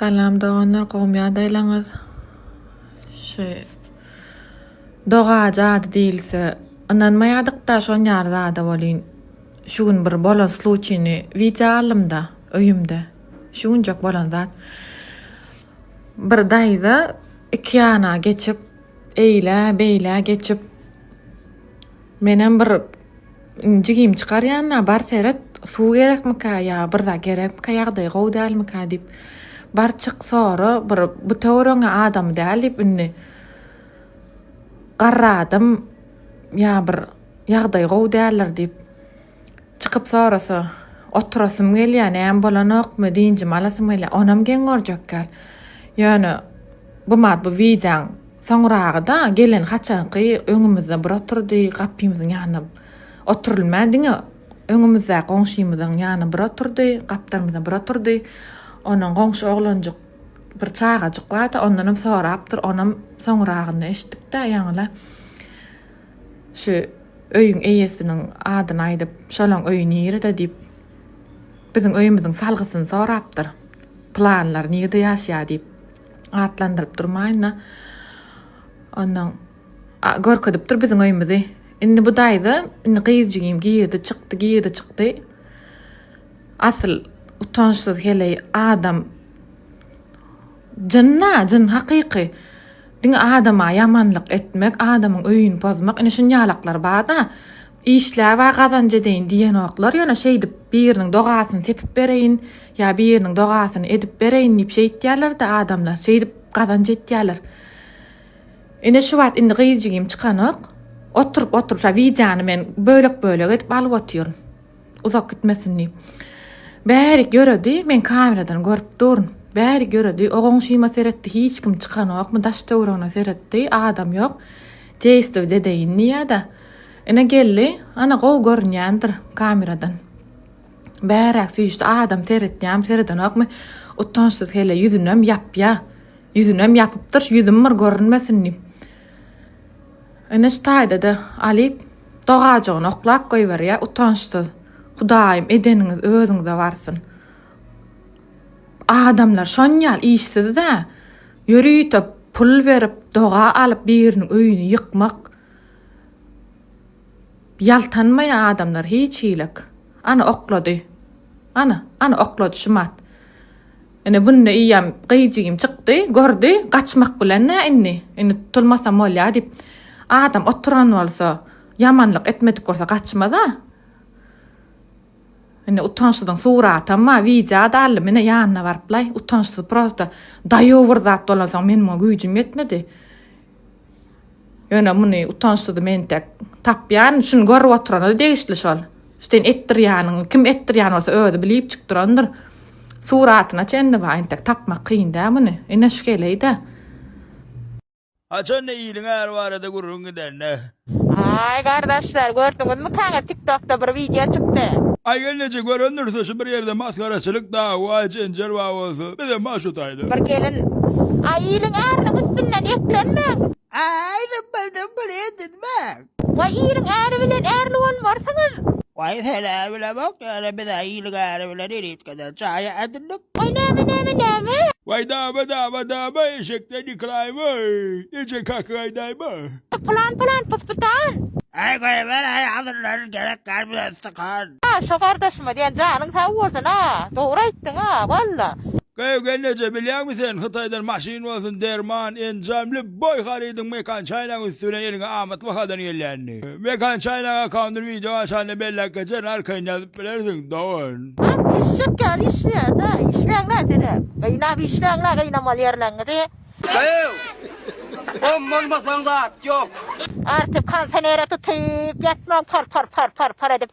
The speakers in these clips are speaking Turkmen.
Salam doganlar gowmy ýagdaýlaňyz? Şu doga jady diýilse ynanmaýadyk-da şon ýaly zada welin şu gün bir bolan sluçini wideo aldym-da öýümde. Şu günjek bolan zat. Bir daýza iki ýana geçip eýle beýle geçip menem bir Jigim çykar ýanyna bar seret suw gerekmika ýa bir zat gerekmika ýagdaýy gowy dälmika diýip bar çyk sora bir bu töweregiňe adamy däl diýip indi garradym ýa bir ýagdaýy gowy däldir diýip çykyp sorasa oturasym gelýär näme bolanokmy dynjymy alasym gelýär onam geň görjek däl ýöne Buma bu wideoň soňragyda gelen haçanky öňümizde bir oturdy gapymyzyň ýanyna oturylmän diňe öňümizdäki goňşymyzyň ýanyna bir oturdy gapdalymyza bir oturdy onuň goňşy oglanjyk bir çagajyk bardy ondanam sorapdyr onam soňragynda eşitdikdä ýaňyla şu öýüň eýesiniň adyny aýdyp şolaň öýi nirede diýip Biziň öýümiziň salgysyny sorapdyr. Pylanlar nirede ýaşaýar diýip atlandyryp durmaýyn-da, onnoň görkezipdir biziň öýümizi. Indi bu daýza, indi gyz jigim girdi, çykdy, girdi, çykdy. Asyl utançsyz heleý adam. Jyn-a, jyn hakyky. Diňe adama ýamanlyk etmek, adamyň öýüni pozmak, ine şuny ýalaklar bar-da. Işläb-ä gazanç edeýin diýenoklar, ýöne şeýdip biriniň dogasyny sepip bereýin ýa biriniň dogasyny edip bereýin diýip şeýtýärler-de adamlar, şeýdip gazanç etýärler. Ine şu wagt indi gyz jigim çykanok. Oturyp-oturyp şa wideony men bölek-bölek edip alyp otyryn. Uzak gitmesin diýip. Bärik ýöredi, men kameradan görüp duryn. Bärik ýöredi, o goňşyma seretdi, hiç kim çykanokmy, daş-töweregine seretdi, adam ýok. Teýstw dede indi ýada. Ine geldi, ana gowy görünýändir kameradan. Bäräk süýşdi adam seretýämi seredenokmy utançsyz hele ýüzünem ýapýa. Ýüzünem ýapypdyr ýüzüm bir görünmesin diýip. Ine şu taýdada Alyp dogajygyny oklap goýberýä utançsyz. Hudaýym edeniňiz özüňize barsyn. Adamlar şonýal işsizdä. Ýörite pul berip doga alyp biriniň öýüni ýykmak ýaltanmaýar adamlar hiç hilik. Ana oklady. Ana, ana oklady şumat. Ine bunda iýem gyýjigim çykdy, gördi, gaçmak bilen nä indi, indi tutulmasam bolýar diýip. Adam oturan bolsa, ýamanlyk etmedik bolsa gaçmaz-a. Indi utançsyzyň suratam bar wideo da aldy menä ýanyna baryplaý utançsyz prosta daýow bir zat bolansoň men muňa güýjüm ýetmedi ýöne muny utançsyzy men entek tapýan şuny görüp oturana degişli şol sen etdirýäniň kim etdirýän bolsa özi bilip çykyp durandyr suratyna çenli bar entek tapmak kyn dä muny ine şgeleýdä. Haçan da iliň äri barada gürrüň gidende. Aý gardaşlar gördüňizmi kaňa tiktokda bir wideo çykdy. Aý gelneje görendirse şu bir ýerde masgaraçylyk dawa jenjel bar bolsa bizem bar şu taýda. Bir gelin Aý iliň äriniň üstünden eklenmäň. Aý zymbyldyň pul edinmäň. Waý iliň äri bilen ärli bolmarsyňyz. Waý senä bilemok ýöne bizä iliň äri bilen elitgeden jaýy edindik. Waý näme näme näme. Waý dama dama dama eşekden ýykylaýyn waý eje kakyň aýdaýma. Pylan pylan pys pytan. Äý goýber äý hazirlerin gerek däl bize ystykan. Şo gardaşyma diýen janyň sag bolsun a dogry aýtdyň a walla. Gaýygel neçe bilýäňmi sen hytaýdan maşyn bolsun derman enjam lýubboý harydyň mekan çaýnagyň üsti bilen eliňe amat bahadan gelýänini mekan çaýnak akkaundyny wideo açanda belläp geçerin arkaýyn ýazyp bilersiň dogan. Jan eşek ýaly işleýäňä işläňä deräp gaýnap işläňä gaýnamaly ýerleňizi. Gaýyg! Gom bolmasaň zat ýok. Artyp kansanera tutyp ýatmaň par par par par par edip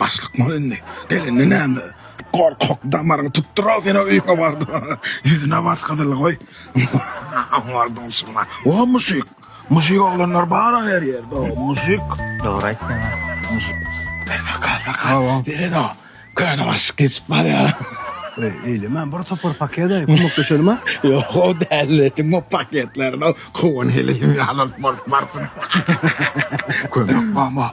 Başlykmyl indi? Gelende näme? Gorkak damaryňy tutdural sen o öýüňe bardyň. Ýüzüne bas gyzyly goý. Bardyň şuna. O muşik. Muşik oglanlar bar-a her ýerde o muşik. Dogry aýtdyň a. Muşik. Ber bakar bakar. Beren o. Köne başlyk geçip barýar. Eýleme bir topar paket aý kömekleşelim a. Ýok o däl etdim o paketlerini kowan heleýim ýaly bolup barsyn. Kömek bama.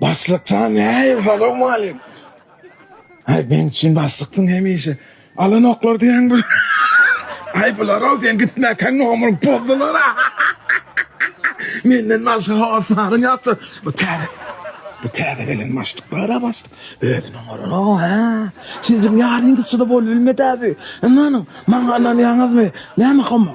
Başlyk saňa näýe salowmalik. Aý beň üçin başlykdyň hemişe. Alan oklar diýen bu. Aý bular-ow sen gitmäkäň nomuryň pozdular-a. Menden başga hossaryň ýokdur. Bu täze bu täze gelen başlyklar-a başlyk. Özüni oňaran-ow hä. Siziň ýaryňyzçy-da bolup bilmedi-ä bu. Ynanyň, maňa ynanýaňyzmy? Näme homo?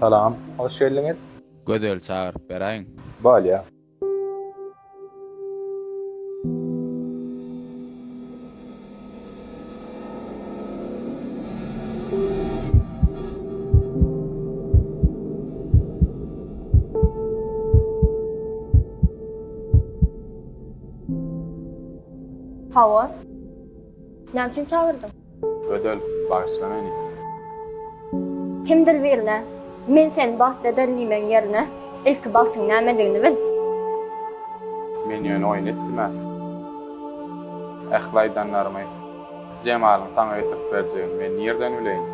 Salam, hoş geldiňiz. Gözeli çagyryp beräýiň. Bolýa. Hawa. Näme üçin çagyrdyň? Ödül, bagyşla meni. Kimdir birine, Men seni bagtly ederin diýmegiň ýerine, ilki bagtyň nämedigini bil. Men ýöne oýun etdim-ä. Ähli aýdanlarymy Jemalyň saňa getirip berjegini men nirden bileýin?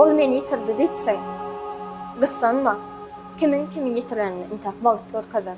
Ol meni ýitirdi diýipsiň. Gyssanma. Kimiň kimi ýitirenini intäk wagt görkezer.